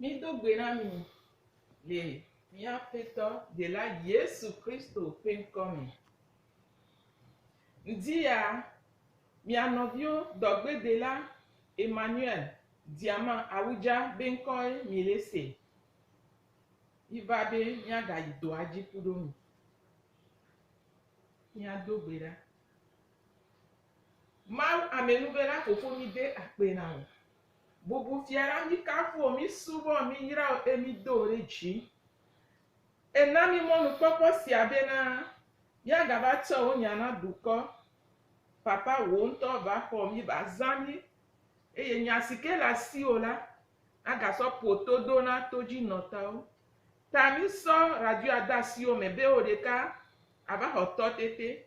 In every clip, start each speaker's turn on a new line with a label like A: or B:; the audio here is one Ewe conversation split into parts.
A: Mído gbe na mi le mía Aƒetɔ Dela Yesu Kristo ƒe ŋkɔ me. Ŋdi ya, mia nɔvio dɔgbedela Emmanuel Diama Awudja be ŋkɔe mi le se. Mi va be mía ga yi dɔa dzi ku ɖo mi. Mía do gbe ɖa. Mawu amenuvela fofo mi de akpe na wò. Bubu fia la mi kafuo mi subɔ mi yrao e mi do ɖe dzi e na mi mɔnu kpɔkpɔ sia be na ya ga va tsɔ wo nya na dukɔ papa wo ŋtɔ va xɔ mi va za mi eye nya sike le asi wo la a ga sɔ ƒo to do na to dzi nɔtawo ta mi sɔ radio a da si wo me be wo ɖeka a va xɔ tɔ tete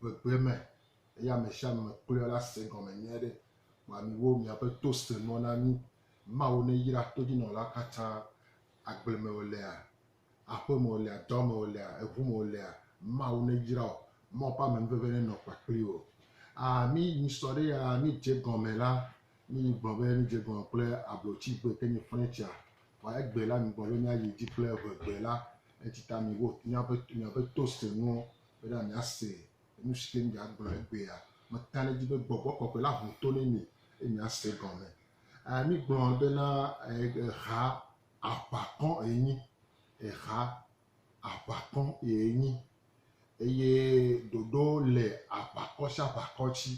B: gbegblẽ me eye ame sia ame kpɔe la se egɔme nyuie ɖe. Vɔa miwo, miaƒe to senɔ na mí. Mawu neyra todzinɔlawo katã, agble me wòlea, aƒe me wòlea, dɔ me wòlea, eŋu me wòlea, Mawu neyra wò. Mawu ƒe amenuveve nenɔ kpakple wò. Aa, mí nyi sɔ ɖe aa, mí dze egɔme la, mí nyi gblɔ be mí dze egɔme kple ablotsi gbe ke nyi flɛtsia. Vɔa egbe la, mí gblɔ be mía yi edzi kple ŋegbe la. Etsi ta miwo, miaƒe, miaƒe to senɔwo bena míase nu si ke míagblɔ egbea. Meta ɖe edzi be gbɔgbɔ kɔkɔe la ho to nɛ mi eye míase gɔme. Eh, mígblɔ bena eh, eha aʋakɔ enyi, eha aʋakɔ enyi eye ɖoɖo le aʋakɔ sia aʋakɔ dzi.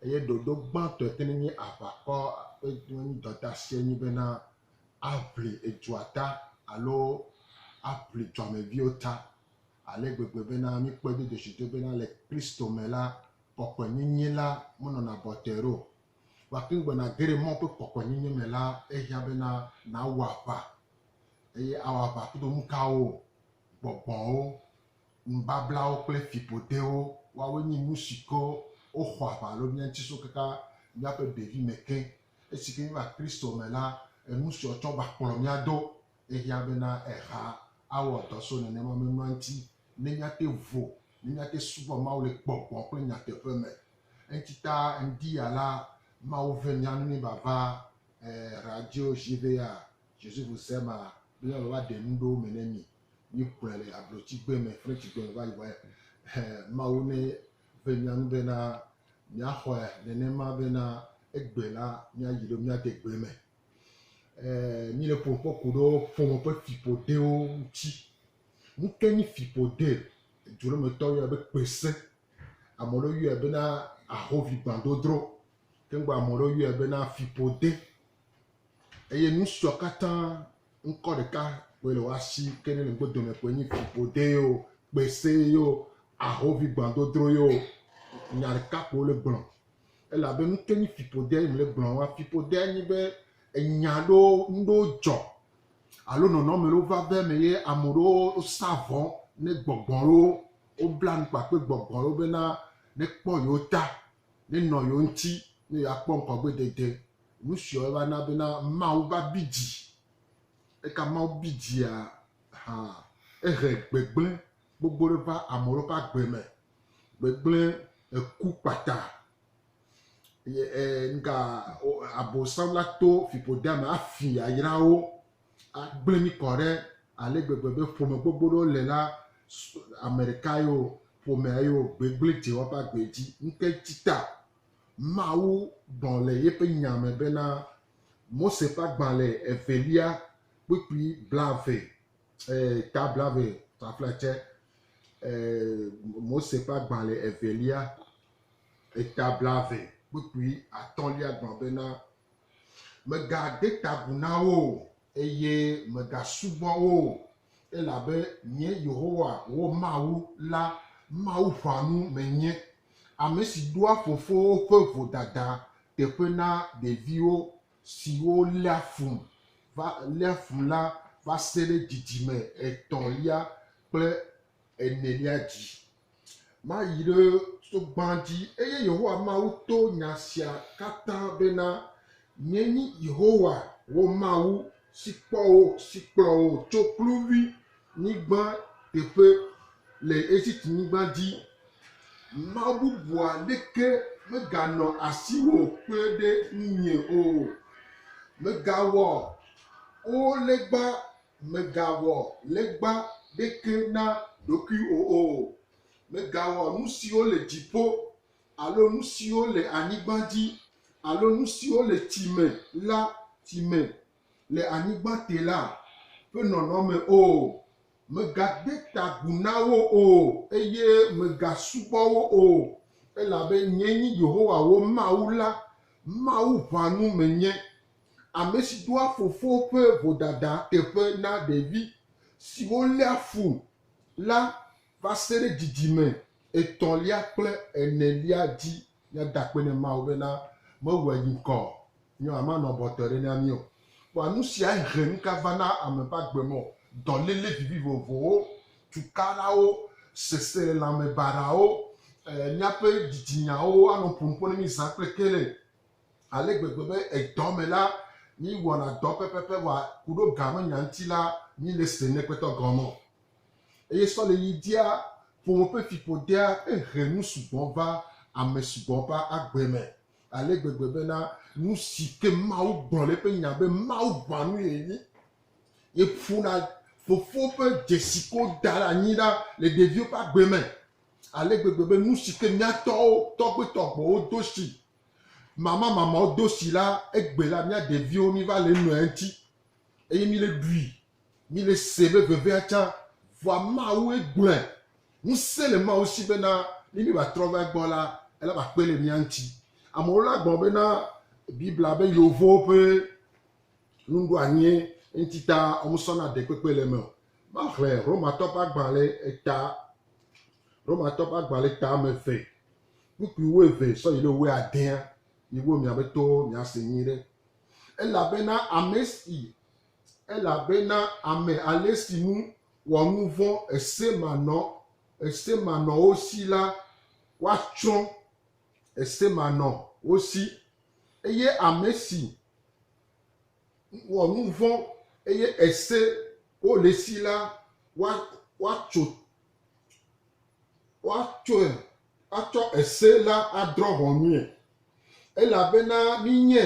B: Eye ɖoɖo gbãtɔ yi ke nenye aʋakɔ ƒe dɔdasia nye bena aʋli edua ta alo aʋli duameviwo ta. ale gbegbe bena míkpɔe do dzesitɔe bena le Kristo me la, kɔkɔenyenye la menɔna bɔtɛr o. Gake ŋgbe nàge ɖe Mawu ƒe kɔkɔenyenye me la, ehiã bena nàwɔ aʋa. Eye awɔ aʋa kudo nukawo? Gbɔgbɔwo, nubablawo kple fiƒodewo. Woawoe nye nusi ke woxɔ aʋa le mía ŋuti so kaka míaƒe ɖevime ke. Esi ke míeva Kristo me la, enusiawo tsɔ va kplɔ mía do. Ehiã bena eha awɔ dɔ so nenema memlɔa ŋuti ne míate vo, ne míate subɔ Mawu le gbɔgbɔ kple nyateƒe me. Eŋuti ta ŋdi ya la, Mawu ve mía nu mí vava eh radio jivea Jésus vous aime be míava va ɖe nu ɖewo me ne mi. Míkplɔe le ablotsigbe me, Frenchigbe me va yi wɔe. Eh Mawu ne ve mía nu bena míaxɔe nenema bena egbe la míayi ɖo míade gbe me. eh, mí le ƒo kpɔ ku ɖo ƒome ƒe fiƒoɖewo ŋuti. Nu ke nyi fiƒoɖe? Edu ɖe me tɔ yɔɛ be kpese. Ame ɖewo yɔɛ bena ahovi gbãdodro. Ke ŋgbe ame ɖewo yɔɛ bena fiƒode. Eye nu siɔ katã ŋkɔ ɖeka koe le woa si ke ne le ŋgbe dome koe nyi fiƒode yio, kpese yio, ahovi gbãdodro yio. Nya ɖeka koe wole gblɔ. elabe nu ke nye fiƒode yim le gblɔm wa. Fiƒodea nye be enya ɖewo nu ɖewo dzɔ alo nɔnɔme ɖewo va va eme ye ame ɖewo sa vɔ ne gbɔgbɔ ɖewo wobla nu kpakple gbɔgbɔ ɖewo bena nekpɔ yewo ta, nenɔ yewo ŋuti ne yewoakpɔ ŋgɔgbedede. Nu siawo va na bena Mawu va bi dzi. Eka Mawu bi dzia? Hã ehe gbegblẽ gbogbo ɖe va ame ɖewo ƒe agbe me. Gbegblẽ eku kpata. Ye e nuka o abosam la to fiƒodea me afi yayra wo, agblẽ mí kɔ ɖe ale gbegbe be ƒome gbogbo ɖewo le la s ame ɖeka ye o, ƒomea ye o, gbegblẽ dze woƒe agbe dzi. Nuka ŋuti ta? Mawu gblɔ le yeƒe nya me bena, Mose ƒe agbalẽ evelia, kpukpui blaeve, eh, ta blave fafla tsɛ, eh, Mose ƒe agbalẽ evelia, eta blave kpukpui atɔ̃lia gblɔ bena, Megade ta agu na wo o, eye megasubɔ wo o, elabe nye Yehowa, wò Mawu la, Mawu ƒãnu menye, ame si ɖoa fofowo ƒe vodada teƒe na ɖeviwo siwo léa fum va léa fum la va se ɖe dzidzime etɔ̃lia kple enelia dzi. Mayi ɖe to gbã dzi. Eye Yehowa Mawu to nya sia katã bena, Nyee nye Yehowa wò Mawu si kpɔ wò, si kplɔ wò tso kluvi nyigba teƒe le Egiptnyigba dzi. Mawu bubu aɖeke meganɔ asiwò kpe ɖe ŋunye o. Mègawɔ O legba, mègawɔ legba ɖeke na ɖokuiwò o. Mègawɔ nu siwo le dziƒo alo nu siwo le anyigba dzi alo nu siwo le tsi me la tsi me le anyigba te la ƒe nɔnɔme o. Mègade ta agu na wo o, eye mègasubɔ wo o, elabe nyee nye Yehowa wò Mawu la, Mawu ʋãnu menye, ame si doa fofo ƒe vodada teƒe na ɖevi siwo léa fu la va se ɖe dzidzime etɔ̃lia kple enelia dzi míada akpe na Mawu bena mewɔe yi ŋkɔ o. Nyo ame anɔ abe wòtɔe ɖe na mí o. Kpɔ nu sia he nu ka va na ame ƒe agbe me o, dɔléle vivi vovovowo, tukalawo, seselelãme baɖawo, míaƒe dzidzinyawo anɔ ƒo nu ƒo na mí zã kple kele ale gbegbe be edɔ me la, míwɔna dɔ pɛpɛpɛ vɔa ku ɖo gamenya ŋuti la, míele se ne kpetɔ gɔme o. Eye sɔle yi dia ƒome ƒe fiƒodea ehe nu sugbɔ va ame sugbɔ ƒe agbe me ale gbegbe bena nu si ke Mawu gblɔ le eƒe nya be Mawu ʋã nui enye. Ye ƒona fofo ƒe dzesi ko da ɖe anyi ɖa le ɖeviwo ƒe agbe me ale gbegbe be nu si ke mía tɔwo, tɔgbe tɔgbewo do si, mama mamawo do si la, egbe la mía ɖeviwo miva le eme eŋuti eye mi le ɖui. Mi le se be vevea tsã vɔa Mawue gblɔe. Ŋusẽ le Mawu si bena ne míeva trɔ va egbɔ la, ele be akpe le mía ŋuti. Amewo la gblɔ bena Biblia be Yeovowo ƒe nuɖoanyie ŋuti ta womesɔna ɖekpekpe le eme o. Maxlẽ Romatɔ ƒe agbalẽ eta, Romatɔ ƒe agbalẽ eta ame eve kpukpui wu eve sɔ yi ɖe wu adea. Miwo miaƒe towo miase nyuiɖe. Elabena ame si Elabena ame ale si ŋu wɔ nu vɔ̃ esemanɔ esemanɔwo si la, woatsrɔ̃ esemanɔ wo si, eye ame si wɔ nu vɔ̃ eye ese wo le si la, woa woatso woatsɔe atsɔ ese la adrɔ̃ ʋɔnue. Elabena minye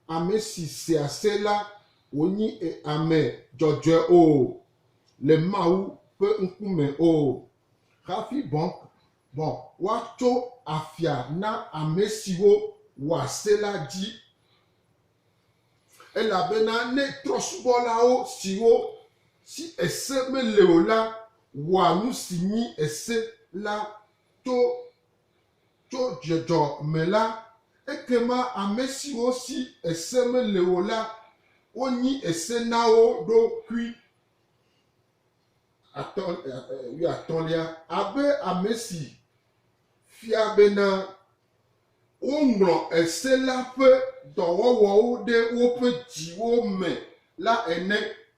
B: Ame si sea se la wònyi ame dzɔdzɔe o le Mawu ƒe ŋkume o. Hafi bɔ bɔ woatso afia na ame siwo wɔa se la dzi. Elabena ne trɔ̃subɔlawo siwo si ese mele o la wɔa nu si nyi ese la to tso dzɔdzɔ me la, ekema ame siwo si ese mele o la, wonyi ese na wo ɖokui. Atɔ, wuiatɔ̃lia, abe ame si fia bena woŋlɔ ese la ƒe dɔwɔwɔwo ɖe woƒe dziwo me la ene.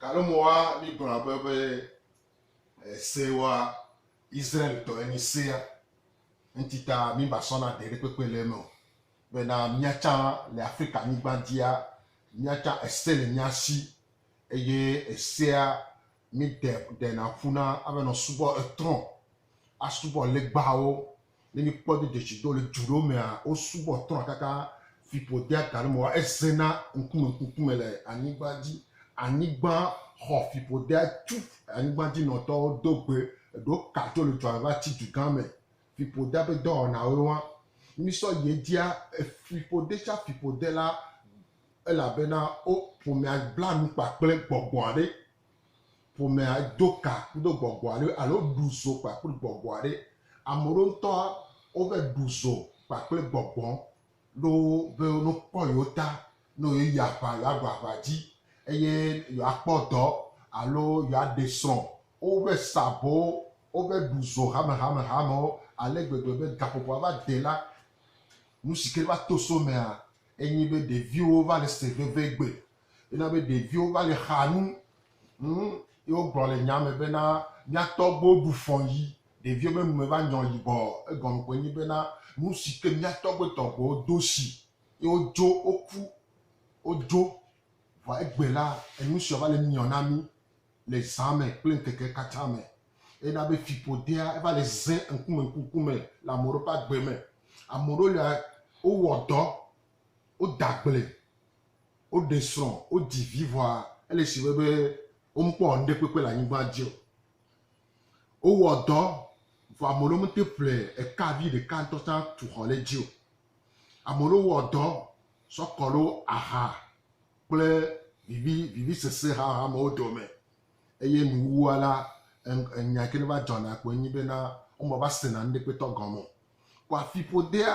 B: Gake mɔa mi gblɔ abe be ese wa Israel tɔ enyi sea ŋuti ta mi ba sɔ na ɖe ɖe kpekpe le eme o. Be na mia tsã le Afrika nyigba dia mia tsã ese le mia si eye esea mi de ɖe na ƒu na abe nɔ subɔ etrɔ asubɔ legbawo Ne mikpɔ do detsi do le dzu ɖewo mea, wosubɔ trɔ̃ kaka fiƒo dea ga ɖe me wa ezena ŋkume ŋkume le anyigba dzi. Anyigba xɔ fiƒo dea tu anyigba dzi nɔtɔwo do gbe. Eɖewo ka tso le dua me va tsi du gã me. Fiƒo dea ƒe dɔwɔnawoe wa. Ne misɔ yi edzia, efiƒo de tsa fiƒo de la, elabena wo ƒomea bla nu kpakple gbɔgbɔ aɖe. ƒomea do ka kudo gbɔgbɔ aɖe alo ɖu zo kpakple gbɔgbɔ aɖe. Ame ɖewo ŋutɔ wova ɖu zo kpakple gbɔgbɔ ne wobe ne wokpɔ yewo ta ne yewoyi aŋa yewoaɖu aŋa dzi eye yewoakpɔ dɔ alo yewoaɖe srɔ̃. Wova sa abowo, wova ɖu zo hamehamehamewo ale gbegbe be gaƒoƒoa va de la, nu si ke va to so emea enye be ɖeviwo va le se vevie gbe Ena be ɖeviwo va le xa nu. Ŋ, ye wogblɔ le nyaa me bena, Mía tɔgbuiwo ɖu fɔ̃ yi ɖeviwo be nu me va nyɔ yibɔ. Egɔme koe nyi bena, nu si ke mía tɔgbuiwo tɔgbuiwo do si ye wodzo, woku, wodzo. Vɔa egbe la, enu sia va le nyɔ na mí le zã me kple ŋkeke katã me. Ena be fiƒodea eva le zẽ ŋkume ŋkume le ame ɖewo ƒe agbe me. Ame ɖewo lia, wowɔ dɔ, woda agble, Woɖe srɔ̃, wodzi vi vɔa ele si vɛ be womekpɔ ŋɖe kpekpe le anyigba dzi o. Wowɔ dɔ vɔa ame ɖewo mete ƒle eka vi ɖeka ŋtɔ tsã tu xɔ le dzi o. Ame ɖewo wɔ dɔ sɔ kɔ ɖo aha kple vivi vivi sese haha me wo dome eye nuwuwua la enya yike ne va dzɔna kpoe nyi be na wome va sena ŋɖe kpetɔ gɔme o. Kɔ afiƒodea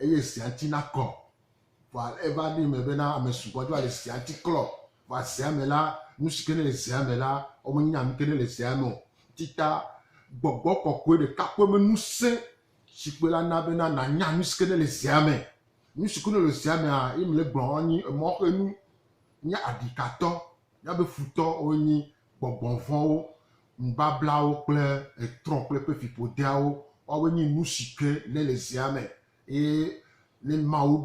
B: Eye sea ŋuti naklɔ. Vɔa eva ɖo eme bena ame sugbɔ dzo ale sea ŋuti klɔ. Vɔa zea me la, nu si ke ne le zea me la, womenya nu ke ne le zea me o. Ti ta Gbɔgbɔ Kɔkɔe ɖeka pɛ me ŋusẽ si kpe la na bena nànya nu si ke ne le zea me. Nu si ke ne le zea mea, ye mele gblɔm anyi emɔxenu. Nye aɖikatɔ, míabe futɔwoe nyi gbɔgbɔ vɔ̃wo. Nubablawo kple etrɔ kple eƒe fiƒodeawo, woawoe nye nusi ke ne le zea me eye ne Mawu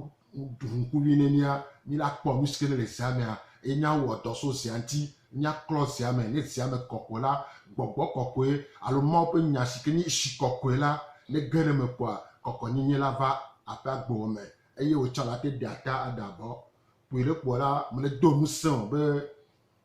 B: ɖu ŋku vi ne mía, mí la kpɔ nusi ke ne le zea mea eye míawɔ dɔ so zea ŋuti, míaklɔ zea me. Ne zea me kɔ ko la, Gbɔgbɔ Kɔkɔe alo Mawu ƒe Nya si ke nye Tsi Kɔkɔe la ne ge ɖe eme koa, kɔkɔnyenye la va aƒea gbewo me eye wotsã la te ɖea ta aɖe abɔ. Kpuie ɖe kpɔ la, mele do ŋusẽ o be.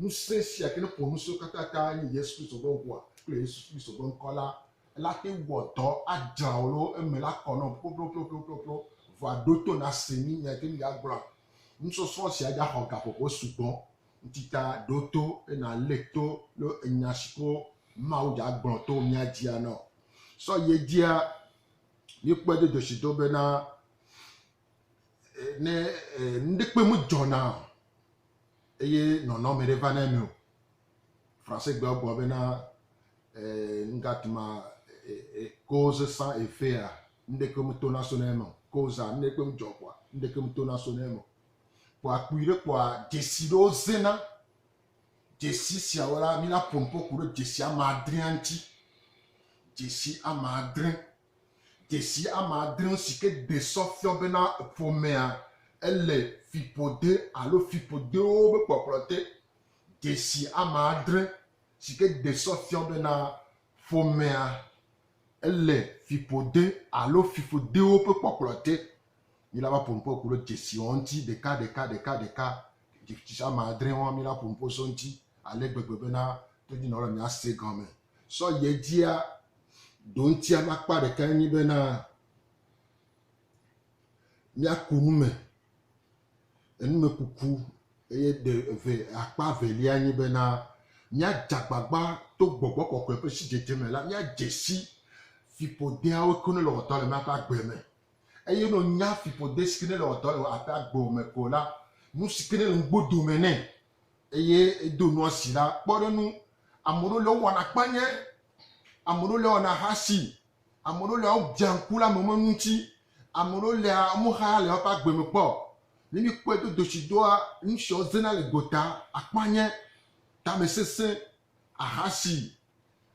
B: Ŋusẽ sia ke ƒo nu siwo katã ta nye Yesu Kristo ƒe ŋkɔa kple Yesu Kristo ƒe ŋkɔ la, la te wɔ dɔ adzra wò loo eme la kɔ nɔm ploploploploploplo. Vɔa ɖo to nàse mí, míate ŋu agblɔ nusɔsrɔ̃ sia dzi axɔ gaƒoƒo sugbɔ. Ŋuteta, ɖo to eye nàlé to lo enya si ko Mawu dze agblɔ to mía dzia na wò. Sɔ yi edzia míekpɔe do dzesi do bena. ne nuɖekpe medzɔ na o eye nɔnɔme ɖe va na eme o. Fransegbe gblɔ bena eh, nu gãtɔ ma eh, eh, cause sans effet a nuɖeke meto na so na eme o. Cause a nuɖekpe medzɔ kpɔa nuɖeke meto na so na eme o. Kpɔa kpui ɖe kpɔa dzesi ɖewo zena. Dzesi siawo la, mina ƒonuƒo ku ɖe dzesi ame adrea ŋuti. Dzesi ame adre. Dzesi ame adre si ke ɖe sɔ fiɔ bena ƒomea ele fiƒode alo fiƒodewo be kpɔkplɔ te. Dzesi ame adre si ke ɖe sɔ fiɔ bena ƒomea ele fiƒode alo fiƒodewo ƒe kpɔkplɔ te. Míla va ƒo nu ƒo ku ɖe dzesiwo ŋuti ɖeka ɖeka ɖeka ɖeka. Dzesi ame adre woa, míla ƒo nu ƒo so eŋuti ale gbegbe bena todinɔlawo le mía se gɔme. Sɔ yi edzia, Ɖo ŋuti ƒe akpa ɖeka enye bena míaku nu me, enumekuku eye ɖe eve akpa evelia nye bena míadze agbagba to gbɔgbɔ kɔkɔe ƒe sidzedze me la míadze si fiƒodeawo ke ne le wɔdɔ le míaƒe agbe me eye ne nya fiƒode si ke ne le wɔdɔ le aƒe agbe me ko la nu si ke ne le ŋugbo dome nɛ eye edo nua si la, kpɔ ɖe nu. Ame ɖewo le wowana kpanye, ame ɖewo le wɔna hasi, ame ɖewo le wodzea ŋku le ame me ŋuti, ame ɖewo le womexa le woƒe agbe me kpɔ. Ne mikpɔe do doshi doa, nusiawo zena le gota, akpanye, tamesese, ahasi.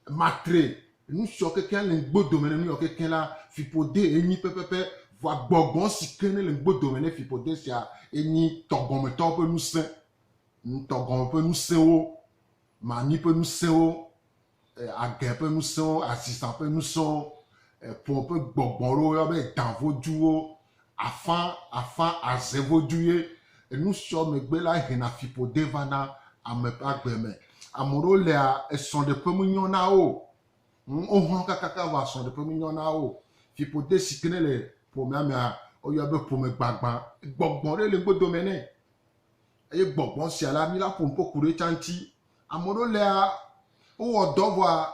B: Matre nu siɔ kekeŋ le ŋgbo dome ne nuyɔ kekeŋ la, fiƒode ye nyi pɛpɛpɛ. Vɔa gbɔgbɔ si ke ne le ŋgbo dome ne fiƒode sia ye nyi tɔgɔmetɔwo ƒe nusẽ. Tɔgɔme ƒe nusẽwo, mami ƒe nusẽwo, agɛ ƒe nusẽwo, azizã ƒe nusẽwo, ƒo ƒe gbɔgbɔ ɖewo yɔ be dã voduwo, Afã, afã aze vodu ye enu sɔ megbe la hena fiƒode vana ame ƒe agbe me. Ame ɖewo lea, esrɔ̃ɖeƒe menyɔ na wo o. Ŋ, wohlɔ̃ kakaka vɔ asrɔ̃ɖeƒe menyɔ na wo o. Fiƒode si ke nele ƒomea mea, woyɔa be ƒomegbagbã. Gbɔgbɔ ɖe le gbɔdo me nɛ. Eye gbɔgbɔ sia la, mi la ƒo nu ƒo ku ɖe etsa ŋuti. Ame ɖewo lea, wowɔ dɔ vɔa,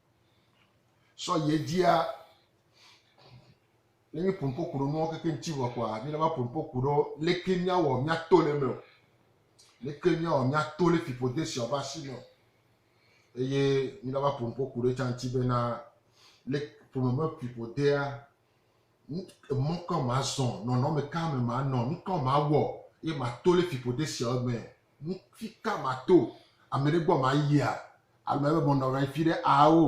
B: sɔ yi edzia ne míeƒo nu ƒo ku ɖe nuwo keke ŋuti vɔ kɔa míena va ƒo nu ƒo ku ɖe leke míawɔ míato le eme o leke míawɔ míato le fiƒode sia ƒe asi me o eye míena va ƒo nu ƒo ku ɖe etsa ŋuti bena le ƒome me fiƒodea Mɔ ka mazɔ? Nɔnɔme ka me manɔ? Nu ka mawɔ ye mato le fiƒode siawo me? Nu fi ka mato? Ame ɖe gbɔ mayia? Alo meva be menɔ anyi fi ɖe ao?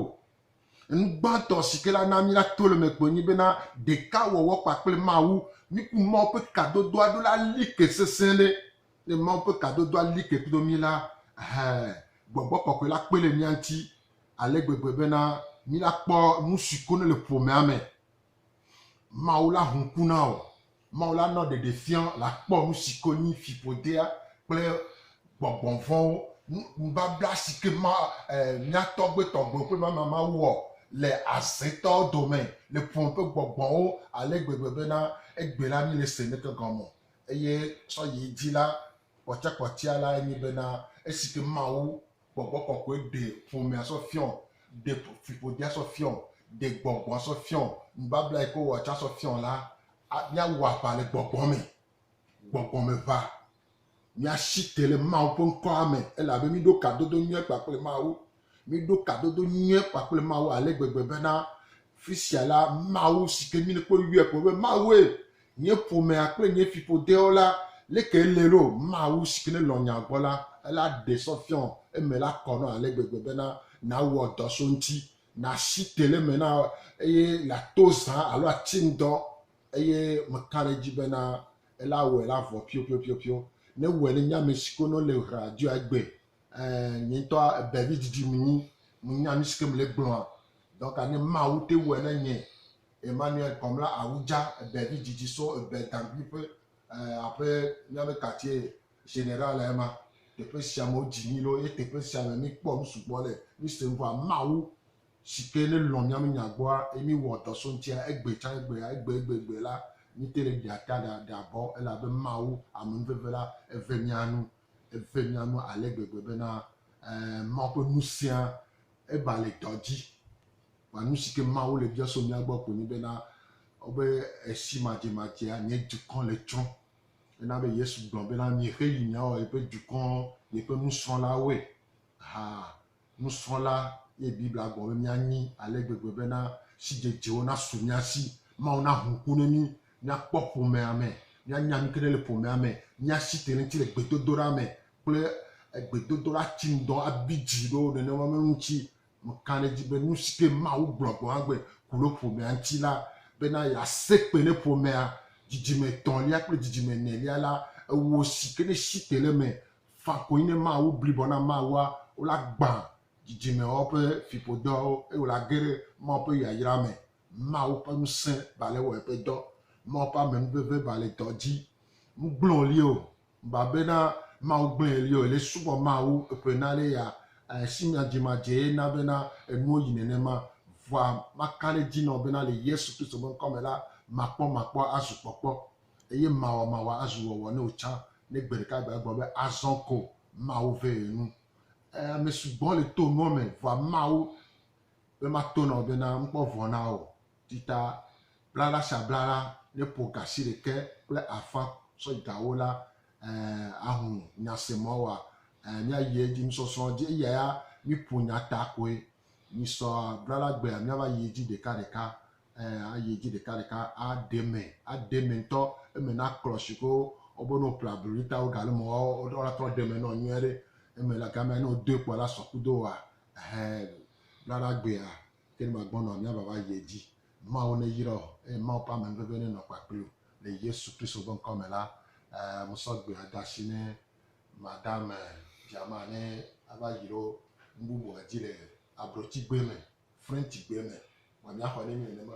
B: Enu gbãtɔ si ke la na míato le eme kpoe nye bena ɖeka wɔwɔ kpakple Mawu. Miku Mawu ƒe kadodoa ɖo la li ke sesẽ ɖe. Ne Mawu ƒe kadodoa li ke kpdo mí la, ɛhɛ, gbɔgbɔ kɔkɔe la kpe ɖe mía ŋuti ale gbegbe bena mílakpɔ nusi ko nele ƒomea me. Mawu la hu ku na wò. Mawu la nɔ ɖeɖefia le akpɔ nusi ko nyi fiƒodea kple gbɔgbɔ vɔ̃wo. Nubabla si ke ma mía tɔgbe tɔgbewo ƒe mama ma wɔ le azetɔwo dome le ƒome ƒe gbɔgbɔwo ale gbegbe bena egbe la míle se neke gɔme o. Eye sɔyi edzi la, kpɔtsia kpɔtsia lae nye bena esi ke Mawu gbɔgbɔ kɔkɔe ɖe ƒomea sɔ fiɔ, ɖe fiƒodea sɔ fiɔ, ɖe gbɔgbɔa sɔ fiɔ, nubabla yi ke wowɔ tsã sɔ fiɔ la, míawɔ aʋa le gbɔgbɔ me. Gbɔgbɔ me ʋa. Míasi te le Mawu ƒe ŋkɔa me elabe míɖo kadodo nyui kpakple Mawu. Míɖo kadodo nyui kpakple Mawu ale gbegbe bena fisia la, Mawu si ke mí kpɔ yɔe kpɔ be Mawue Nye ƒomea kple nye fiƒodewo la leke ele ɖo Mawu si ke ne lɔ̃ nya gbɔ la ela ɖe sɔ fiɔ eme la kɔ nɔ ale gbegbe bena nawɔ dɔ so ŋti, nasi te le eme na eye lato zã alo atsi ŋdɔ eye meka ɖe edzi bena ela wɔe la vɔ piopiopiopio. Ne wɔe ne nye ame si ke no le hra dɔe egbe ɛ nye ŋtɔ ebe vi didi ŋu ŋu nya nu si ke mele gblɔa dɔka ne Mawu te wɔe na nye Emmanuel Kpɔmla Awudza ɖe vi dzidzi so ebe gaŋgui ƒe aƒe míabe katie general ema. Teƒe sia me wodzi mí lo ye teƒe sia me mí kpɔ nu sugbɔ le mí se ŋgɔa. Mawu sike ne lɔ̃ míabe nya gbɔa ye mí wɔ dɔ so ŋutia egbe tsã egbea egbe egbe egbe la mí te ɖe ɖea ta ɖa ɖea bɔ elabe Mawu ame nuveve la eve mía nu eve mía nu ale gbegbe bena eh, Mawu ƒe ŋusẽa eba le dɔ dzi. Kpa nu si ke Mawu le bia so mía gbɔ koe nye bena, wobe esi madzemadzea, nye dukɔ le tsrɔ̃. Ena be Yesu gblɔ bena, Mi xe yi miawɔ yeƒe dukɔ, yeƒe nusrɔ̃lawoe. Ha, nusrɔ̃la ye Biblia gblɔ be míanyi ale gbegbe bena sidzedzewo nasu mía si, Mawu naho ŋku ne mí, míakpɔ ƒomea me, míanya nu ke ɖe le ƒomea me, míasi teɖeŋti le gbedodoɖa me kple gbedodoɖa ti ŋdɔ abi dzi ɖo nenema me ŋuti Nukã ɖe edzi be nusi ke Mawu gblɔ gɔ̃ hã gbe ku ɖe ƒomea ŋuti la, bena yease kpe ne ƒomea, dzidzime etɔ̃lia kple dzidzime enelia la, ewɔ si ke ne si te le eme faa koe nye Mawu blibɔ na Mawua, wola gbã dzidzimeawo ƒe fiƒodɔawo eye wola ge ɖe Mawu ƒe yayra me. Mawu ƒe ŋusẽ ba le wɔ eƒe dɔ. Mawu ƒe amenuveve ba le dɔ dzi. Nu gblẽ wòli o Ba be na Mawu gblẽ li o, ele subɔ Mawu eƒe na le ya eh, si mia dzi ma dze na be na enuo yi nenema. Vɔa ma ka ɖe dzi nɔ be na le Yesu Kristo be ŋkɔ me la, ma kpɔ ma kpɔ azu kpɔkpɔ, eye ma wɔ ma wɔ azu wɔwɔ ne o tsã, ne gbe ɖeka gbe agblɔ be azɔ ko Mawu ve ye nu. Eh, ame sugbɔ le to nuɔ me, vɔa Mawu be ma to na o be na ŋkpɔ vɔ na o. Tita blaɖa sia blaɖa ne ƒo gasi ɖekɛ kple afã sɔ gawo la, ẽ, ahu nya se ma wa, ẽ, mia yi edzi nusɔsrɔ̃ dzi eya ya mi ƒo nya ta koe. Mi sɔ blaɖa gbea mia va yi edzi ɖeka ɖeka, ẽ, a yi edzi ɖeka ɖeka a ɖe eme, a ɖe eme ŋutɔ, eme na klɔ shike wo wɔ be ne wo ƒle ablu ɖi ta wo ga le eme woa wo la trɔ ɖe eme nɔ nyuiɖe. Eme le gamea ne wo doe kpɔ la sɔ kudo woa, ɛhɛɛ, blaɖa gbea Ke ne màgbɔnɔ o, míava va yi edzi. Mawu neyra wò, eye Mawu ƒe amenuveve nenɔ kpakple wò. Le Yesu Kristo ƒe ŋkɔ me la, mesɔ gbe ada asi ne madame Djamah ne ava yro nu bubua dzi le Abrotigbe me, Frenchigbe me. Vɔ míaxɔ ne mi nenema.